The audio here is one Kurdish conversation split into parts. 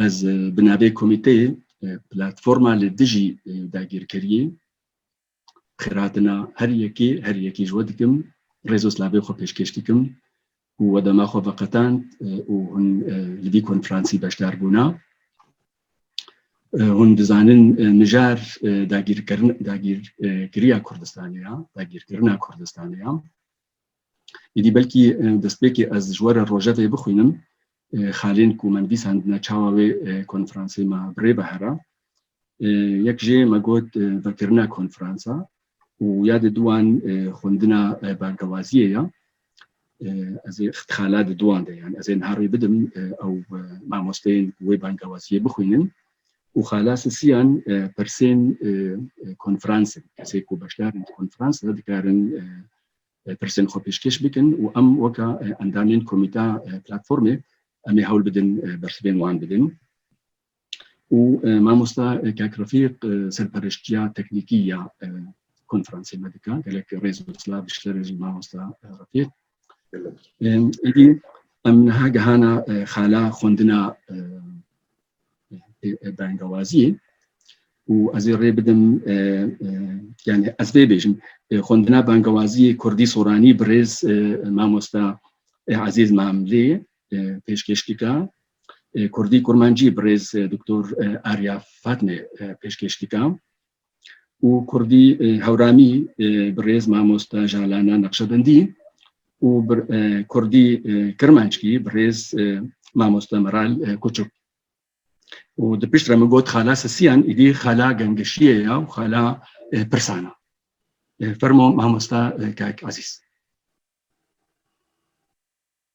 Ez bi navê komîteyê Platforma li dijî dagîrkeriyê xêrhatina her yekê her yekî ji we dikim, rêz û slavê xwe pêşkêş dikim ku we dema xwe veqetand û hûn li vî konferansî beşdar bûna. Hûn dizanin mijar dagîrkiriya Kurdistanê ya, dagîrkirina Kurdistanê ya. Êdî belkî destpêkê ez ji we re rojevê bixwînim, xalên ku me nivîsandine çawa wê konferansê me bi rê bihera. Yek jê me got vekirina konferansa û ya di duan xwendina bangewaziyê ya. Ez ê xala di duan de yan ez ê niha rê bidim ew mamosteyên ku wê bangewaziyê bixwînin û xelasisiyan pirsên konferans in. Kesê ku beşdar in di konferans de dikarin pirsên xwe pêşkêş bikin û em weka endamên komîta platformê em ê hewl bidin bersivên wan bidin. Û mamosta Kak Refîq serpereştiya teknîkî ya konferansê me dika. Gelek rêz û silav ji te re jî mamosta Refîq. Êdî em niha gehana xala xwendina bengawaziyê û ez ê rê bidim yani ez vê bêjim xwendina bengawaziyê kurdî soranî birêz mamosta Ezîz Mamlê pêşkêş dika kurdî kurmancî birêz doktor Arya Fatmê pêşkêş dika û Kurdî Hewranî bi rêz mamosta Jalana Neqşebendî û bi Kurdî Kirmanckî bi rêz mamosta Meral Kuçuk. û di pişt re min got xala sisiyan îdî xala gengişiyê ya û xala pirsana. Fermo mamosta Kak Ezîz.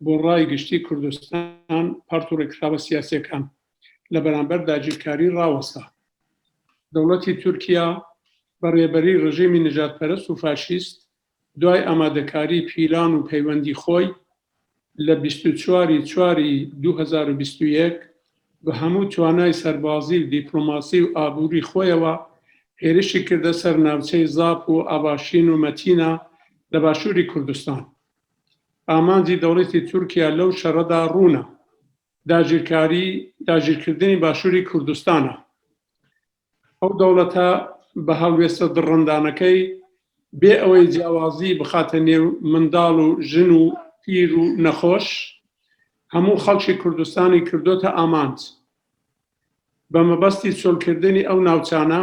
Bo rayê giştî Kurdistan part û rêkxiraba siyasekan li beramber dagirkarî rawesta. Dewletî Tirkiya bi rêberî rejîmî nijadperest û faşîst duay amadekarî, pîlan û peywendî xoy li bîst û çar ê çar ê du hezar û bîst û yek bi hemû twanayê serbazî û dîplomasî û aborî xoyê we hêrişî kirde ser navçeyê zaf û avaşîn û metîna li başûrî Kurdistan. Amancî dewletê Tirkiye lew şere de rûn e. Dagirkarî, dagirkirdinê Başûrê Kurdistan e. Ew dewlete bi helwêste dirindaneke bê ewê ciyawazî bixate nêw mindal û jin û pîr û nexweş, hemû xelkê Kurdistanê kirdote amanc. Bi mebestî çolkirdinê ew navçane,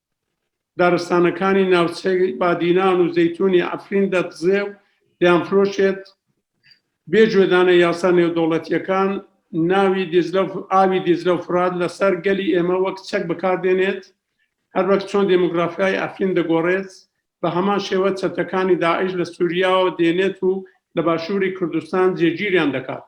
Daristanekani navçeyê Badînan û Zeytûnê Efrîn de dizê û dêanfiroşêt. Bê cwedane yasa nêwdewletîyekan nawî Dîcle û avî Dîcle û Firat li ser gelî ême wek çek bi kar dênêt. Her wek çon demografîyayê Efrîn digorêt, bi heman şêwe çetekanî DAIŞ li Sûrîya dênêt û li başûrî Kurdistan cêgîrîyan dikat.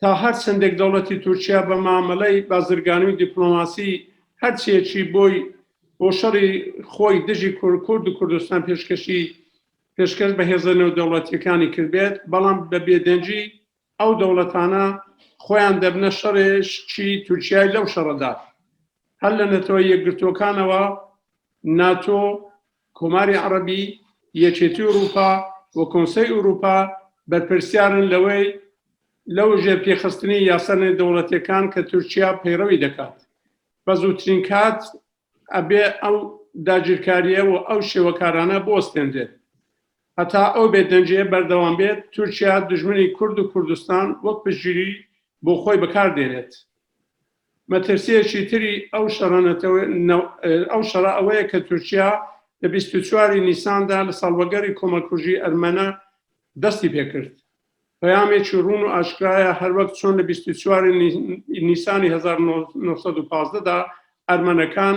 Ta her çendek dewletî Tirkiye bi mameleyê bazirganî û dîplomasî her çiyê çî boy bo şerî xwe dijî Kurd û Kurdistan pêşkêşî pêşkêş bi hêza newdewletîyekanî kiribe belam bi bêdengî ew dewletane xweyan debine şerê çî Tirkiyeyê lew şere de her li Neteweyê Yekgirtokane wa, NATO, Komarê Erebî, Yekêtî Ewropa û Konsey Ewropa berpirsyar in li wê li wijêpêxistinê yasa nêdewletekan ke Tirkiya peyrewî dikat. Bi zûtirîn kat ebe ew dagirkariye û ew şêwekarane biwestênrê. Heta ew bêdenciyê berdewam bêt, Tirkiya dijminî Kurd û Kurdistan wek piştgirî bo xwe bikar dênêt. Metirsiyekî tirî ew şera netewe ew şera ewe ye ke Tirkiya di bîst û çarî Nîsan de li salvegerî komakujî ermene destî pê kir. Peyamekî rûn û aşkera ye her wek çon li bîst û çarî Nîsanî hezar û neh sed û pazdeh de ermenekan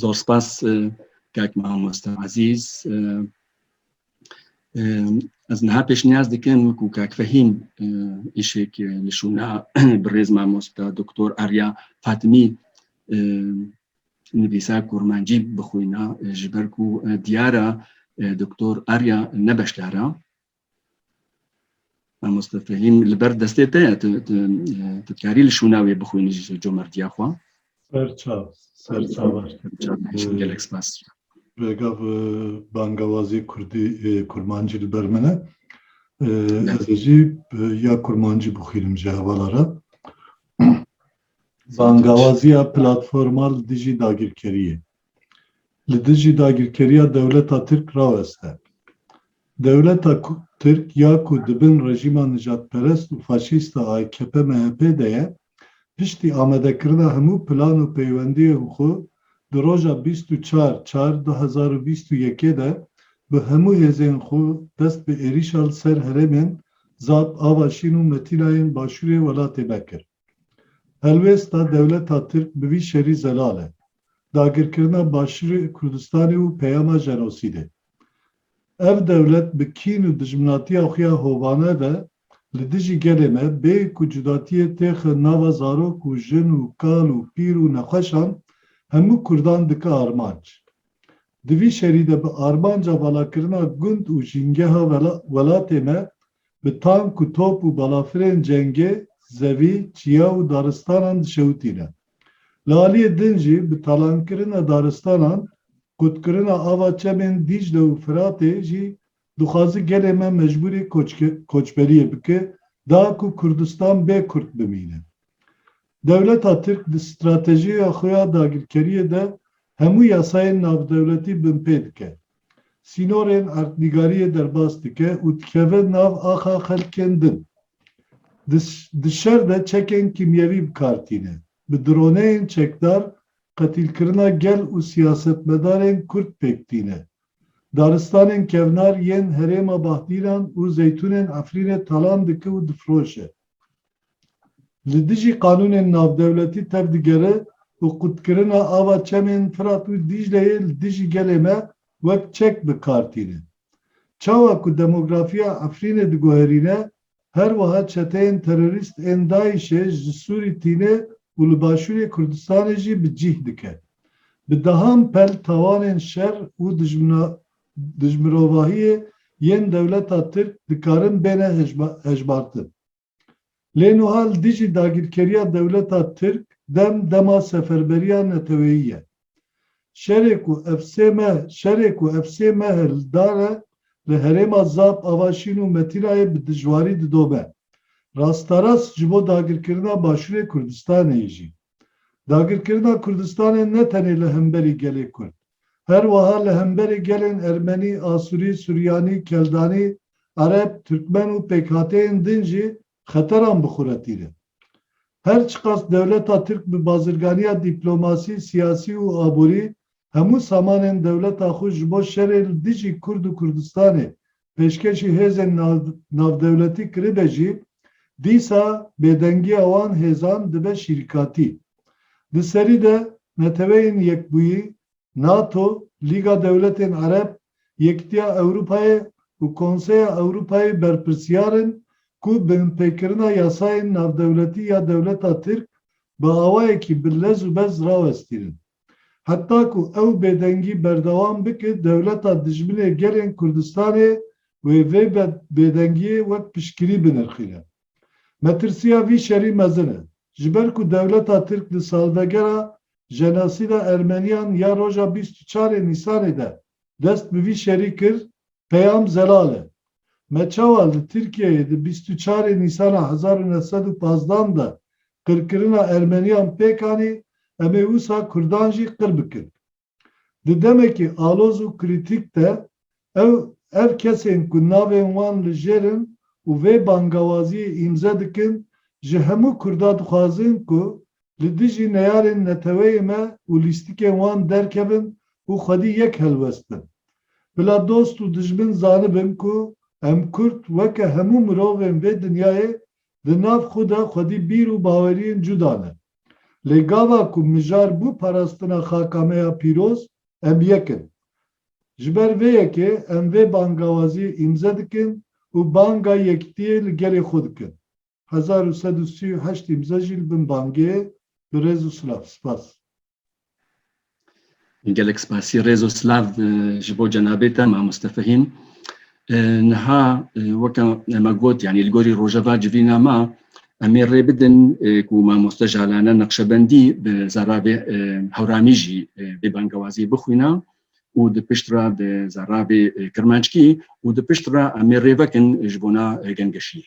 Zor spas kak mamoste ezîz. Ez niha pêşniyaz dikim ku kak Fehîm îşek li şûna birêz mamoste Doktor Arya Fatimî nivîsa kurmancî bixwîna ji ber ku diyar e Doktor Arya ne beşdar e. Mamoste Felîm li ber destê te ye tu dikarî li şûna wê bixwînî ji comertiya xwe. Serçav, serçav baştir. Gelek spas. Regav bangawazî Kurdî Kurmancî li ber min e. Ez jî ya Kurmancî bixwînim ji hevala re. Bangawaziya platformal dijî dagirkeriyê. li dijî dagirkeriya dewleta Tirk raweste. Dewleta Tirk ya ku di bin rejîma nijadperest û faşîst a AKP-MHP'ê de ye, piştî amadekirina hemû plan û peywendiyên xwe di roja bîst û çar çar du hezar û bîst û yekê de bi hemû hêzên xwe dest bi êrîşa li ser herêmên Zap, Ava Şîn û Metînayên başûrê welatê me kir. Helwêsta dewleta Tirk bi vî şerî zelal e, dagirkirina Başûrê Kurdistanê û peyama jenosîdê. Ev dewlet bi kîn û dijminatiya xwe ya hovane ve li dijî gelê me bê ku cudatiyê têxe nava zarok û jin û kal û pîr û nexweşan hemû Kurdan dike armanc. Di vî şerî de bi armanca valakirina gund û jîngeha welatê me Bi tank û top û balafirên cengê zevî, çiya û daristanan dişewitîne. Li aliyê din jî bi talankirina daristanan, qutkirina ava çemên Dîcle û Firatê jî dixwaze gelê me mecbûrê koçberiyê bike da ku Kurdistan bê Kurd bimîne. Dewleta Tirk di stratejiya xwe ya dagirkeriyê de hemû yasayên navdewletî binpê dike. Sînorên erdnîgariyê derbas dike û dikeve nav axa xelkên din. Di di şer de çekên kîmyewî bi kar tîne. Bi droneyên çekdar qetîlkirina gel û siyasetmedarên Kurd pêk tîne. Daristanên kevnar yên herêma Bahdîran û Zeytûnên Efrînê talan dike û difiroşe. Li dijî qanûnên navdewletî tev digere û qutkirina ava çemên Firat û Dîcleyê li dijî gelê me wek çek bi kar tîne. Çawa ku demografiya Efrînê diguherîne, her wiha çeteyên terorîst ên DAIŞ'ê ji Sûrî tîne û li Başûrê Kurdistanê jî bi cîh dike. Bi dehan pel tawanên şer û Di ji mirovahiyê yên dewleta Tirk dikarin bêne hejmartin. Lê nuha li dijî dagîrkeriya dewleta Tirk dem dema seferberiya neteweyî ye. Şerê ku ev sê meh şerê ku ev sê meh li dar e li herêma Zap, Avaşîn û Metînayê bi dijwarî didome. Rasterast ji bo dagirkirina Başûrê Kurdistanê yê jî. Dagirkirina Kurdistanê ne tenê li hemberî gelê Kurd, her wiha li hemberî gelên Ermenî, Asurî, Suryanî, Keldanî, Ereb, Turkmen û pêkhateyên din jî xeteran bixuretîne. Her çiqas dewleta Tirk bi bazirganiya dîplomasî, siyasî û aborî hemû samanên dewleta xwe ji bo şerê li dijî Kurd û Kurdistanê pêşkêşî hêzên navdewletî kiribe jî, dîsa bêdengiya wan hêzan dibe şîrkatî. Di serî de Neteweyên Yekbûyî, NATO, Lîga Dewletên Ereb, Yekîtiya Ewropayê û Konseya Ewropayê berpirsyar in ku binpêkirina yasayên navdewletî ya dewleta Tirk bi awayekî bi lez û bez rawestînin. Heta ku ew bêdengî berdewam bike dewleta dijminê gelên Kurdistanê wê vê bêdengiyê wek piştgirî binirxîne. Metirsiya vî şerî mezin e. Ji ber ku dewleta Tirk di salvegera jenosîda Ermeniyan ya roja bîst û çarê Nîsanê de dest bi vî şerî kir, Peyam Zelal e. Me çawa li Tirkiyeyê di bîst û çar ê Nîsana hezar û neh sed û pazdeh an de qirkirina Ermeniyan pêk anî, em ê wisa Kurdan jî qir bikin. Di demekî aloz û krîtîk de ew ev kesên ku navên wan li jêr in û vê bangawaziyê îmze dikin ji hemû Kurda dixwazin ku li dijî neyarên neteweyê me û lîstikên wan derkevin û xwedî yek helwestin. Bila dost û dijmin zanibin ku em kurd weke hemû mirovên vê dinyayê di nav xwe de xwedî bîr û baweriyên cuda ne. Lê gava ku mijar bû parastina xaka me ya pîroz, em yek in. Ji ber vê yekê em vê bangawaziyê îmze dikin û banga yektiyê li gelê xwe dikin. hezar û sed û sî û heşt îmze jî li bin bangê Bi rêz û silav. Spas. Gelek spasî rêz û silav ji bo cenabê te Mamoste Fehîm. Niha weke me got yanî li gorî rojeva civîna me emê rê bidin ku mamoste jalane neqşebendî bi zarabê hewramî jî bê bangewazî bixwîna û di pişt re bi zarabê kirmanckî û di pişt re emê rê vekin ji bona gengeşiyê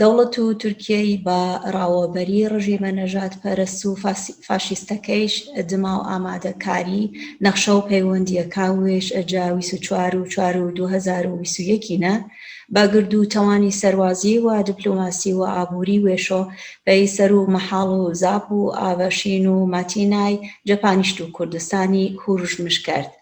Dewlet û Tirkiyeyî ba raweberî rejîma nejatperest û faşîstekeiş dima û amadekarî nexşe û peywendiyeka wê ji ca wîst û çar û çar û du hezar û wîst û yekî ne ba gird û tewanî serbazî û diplomasî û aborî wê şo pey ser û mehal û zap û avşîn û matînay cephanîşt û Kurdistanî hûrûjmiş kerd.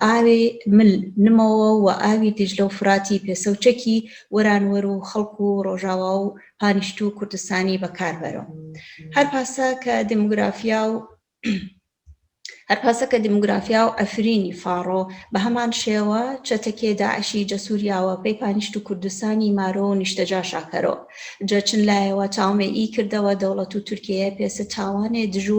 Avê mil, nimawa û avî Dîcle û Firatî pêsewçekî weranwer û xelk û rojawa û panîşt û Kurdistanî bekar bero. Her pasa ke demografiya û Her pasa ke demografiya û Efrînî faro, bi heman şêwa çetekê DAIŞî ce Sûriya we pey panîşt û Kurdistanî maro û nîştecaşa kero. Ce çin layê we çawmê î kirde we dewlet û Tirkiyeyê pêse çawanê dij û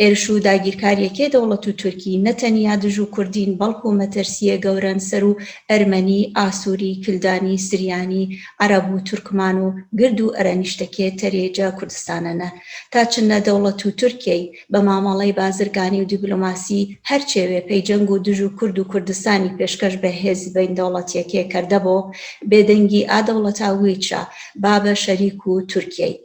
Hêriş û dagîrkariyekê dewlet û Tirkî ne teniya dij û Kurdîn belko metirsiyê gewren ser û Ermenî, Asûrî, Kildanî, Siryanî, Ereb û Turkman û gird û erenîştekê terê ca Kurdistane ne. Ta çin ne dewlet û Tirkîyey be mamaley bazirganî û dîplomasî her çêwê pey ceng û dij û Kurd û Kurdistanî pêşkeş be hêzî beyndewletiyekê kerdebo bêdengî a dewleta wî ça babe şerîk û Tirkîyey.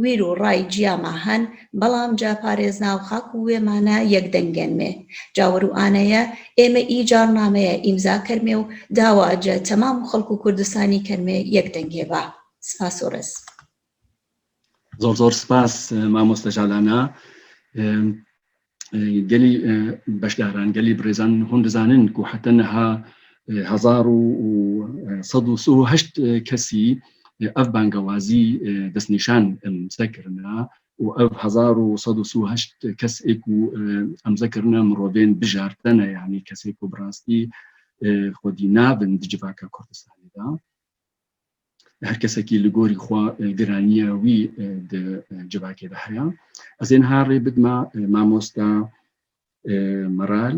Wîr û ray ciya ma hen, belam ca parêz nav xak û wê mane yek dengên mê. Ca wir û ane ye, ê me î carnameye îmza kermê û dawa ce temam û xelk û Kurdistanî kermê yek dengê ba. Spas û riz. Zor zor spas mamoste Jalana. gelî beşdaran gelî birêzan hûn dizanin ku heta niha hezar û sed û sih û heşt kesî ev bangewazî destnîşan em se kirina û ev hezar û sed û sih û heşt kes ê ku em se kirina mirovên bijartin e yanî kesê ku bi rastî xwedî nabin di civaka Kurdistanê de. her kesekî li gorî xwe giraniya wî di civakê de heye ez ê niha rê bidima mamosta meral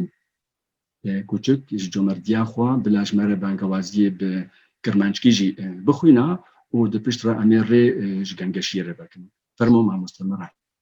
kûçik ji comerdiya xwe bila ji me re bangewaziyê bi kirmanckî jî bixwîna û di pişt re em ê rê ji gengeşiyê re vekin fermo mamosta meral